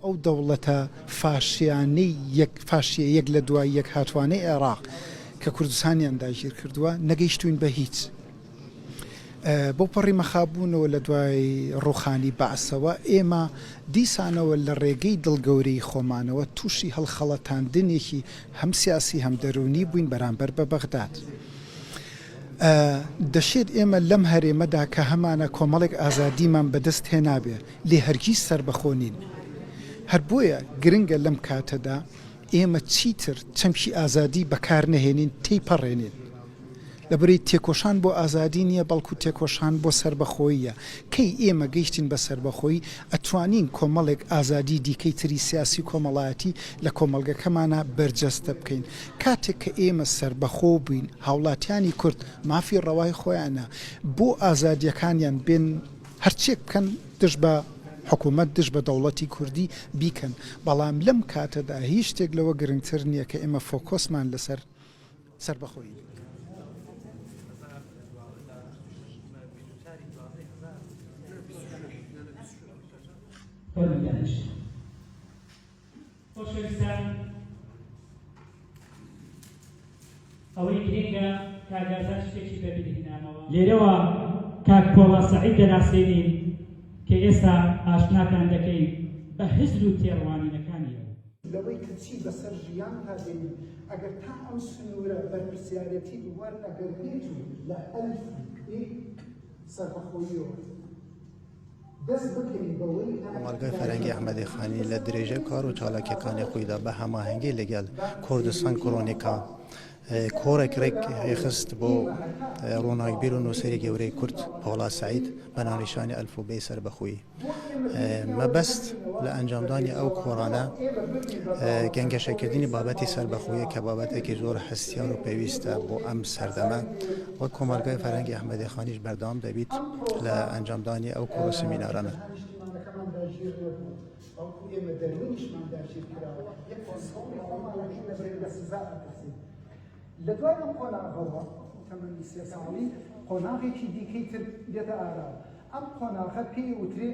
ئەو دەوڵەتە فاشیانەی یەک فاشیە یەک لە دوای یەک هاتوانەی عێراق کە کوردستانیان داگیر کردووە نەگەیشتوین بە هیچ بەو پەڕی مەخابوونەوە لە دوای ڕووخانی بەعسەوە، ئێمە دیسانەوە لە ڕێگەی دڵ گەورەیی خۆمانەوە تووشی هەڵخەڵەتاندنێکی هەم سیاسی هەم دەروونی بووین بەرامبەر بە بەغداد. دەشێت ئێمە لەم هەرێمەدا کە هەمانە کۆمەڵێک ئازادیمان بەدەست هێنابێ، لێ هەرگیز سەربەخۆ نین. هەر بۆیە گرنگە لەم کاتەدا، ئێمە چیتر چەمکی ئازادی بەکارنەهێنین تێیپەڕێنین، لەبری تێکۆشان بۆ ئازادی نییە، بەڵکو تێکۆشان بۆ سەربەخۆییە، کەی ئێمە گەیشتین بە سەربەخۆیی، ئەتوانین کۆمەڵێک ئازادی دیکەی تری سیاسی و کۆمەڵایەتی لە کۆمەڵگەکەمانا بەرجەستە بکەین، کاتێک کە ئێمە سەربەخۆ بووین، هاوڵاتیانی کورد مافی ڕەوای خۆیانە بۆ ئازادییەکانیان بێن، هەرچیەک بکەن دژ بە حکومەت، دژ بە دەوڵەتی کوردی بیکەن، بەڵام لەم کاتەدا هیچ شتێک لەوە گرنگتر نیە کە ئێمە فۆکۆسمان لەسەر سەربەخۆیی بێت. خۆشەویستان ئەوەی گرنگە کاگازان شتێکی بەبیری هێنامەوە لێرەوە کاک پۆڵا سەعید دەناسێنین کە ئێستا ئاشناتان دەکەین بە هزر و تێڕوانینەکانی لەوەی کە چی بەسەر ژیان تا دێنین ئەگەر تا ئەم سنوورە بەرپرسیارەتی وەرنەگرنیت و لە ئەلف سەربەخۆیەوە کۆمەڵگای فەرەنگی ئەحمەدی خانی لە درێژەی کار و چالاکیەکانی خۆیدا بە هەماهەنگی لەگەل کوردستان کرۆنیکا کۆڕێک ڕێک ڕێخست بۆ ڕۆناکبیر و نووسری گەورەی کورد پاڵا سعید بە ناونیشانی ئەلفوبێ سەر بەخۆی مەبەست لە ئەنجامدانی ئەو کۆڕانە گەنگەشەکردنی بابەتی سەر بەخۆیە کە بابەتێکی زۆر هەستیار و پێویستە بۆ ئەم سەردەمە وەک کۆمەڵگای فەرهەنگی ئەحمەدی خانیش بەردەوام دەبیت لە ئەنجامدانی ئەو کۆڕ و سمینارانە. لە دوای ئەم قۆناغەوە تەمەنی سێ ساڵی قۆناغێکی دیکەی تر دێتە ئاراوە ئەم قۆناغە پێی وترێ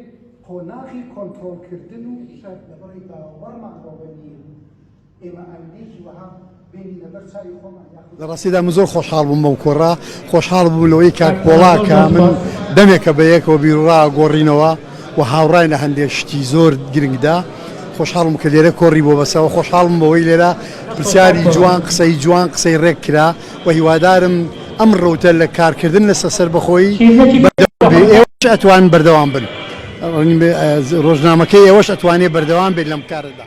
قۆناغی کۆنترۆڵکردن و شەرلەبەڕی باوەڕمان بەوە نییە ئێمە ئایندەیەکی وەها بێنی لەبەر چاوی خۆمان یاخود. لە ڕاستیدا من زۆر خۆشحاڵ بووم بەو کۆڕە، خۆشحاڵ بووم لەوەی کاک پۆڵا کە من دەمێکە بە یەکەوە بیروڕا گۆڕینەوە و هاوڕاین لە هەندێ شتی زۆر گرنگدا، خۆشحاڵ بووم کە لێرە کۆڕی بۆ بەستەوە، خۆشحاڵ بووم بەوەی لێرە پرسیاری جوان، قسەی جوان، قسەی ڕێک کرا و هیوادارم ئەم ڕەوتە لە کارکردن لەسەر سەربەخۆیی بەردەوام بێ، ئێوەش ئەتوان بەردەوام بن، ڕۆژنامەکەی ئێوەش ئەتوانێ بەردەوام بێت لەم کارەدا.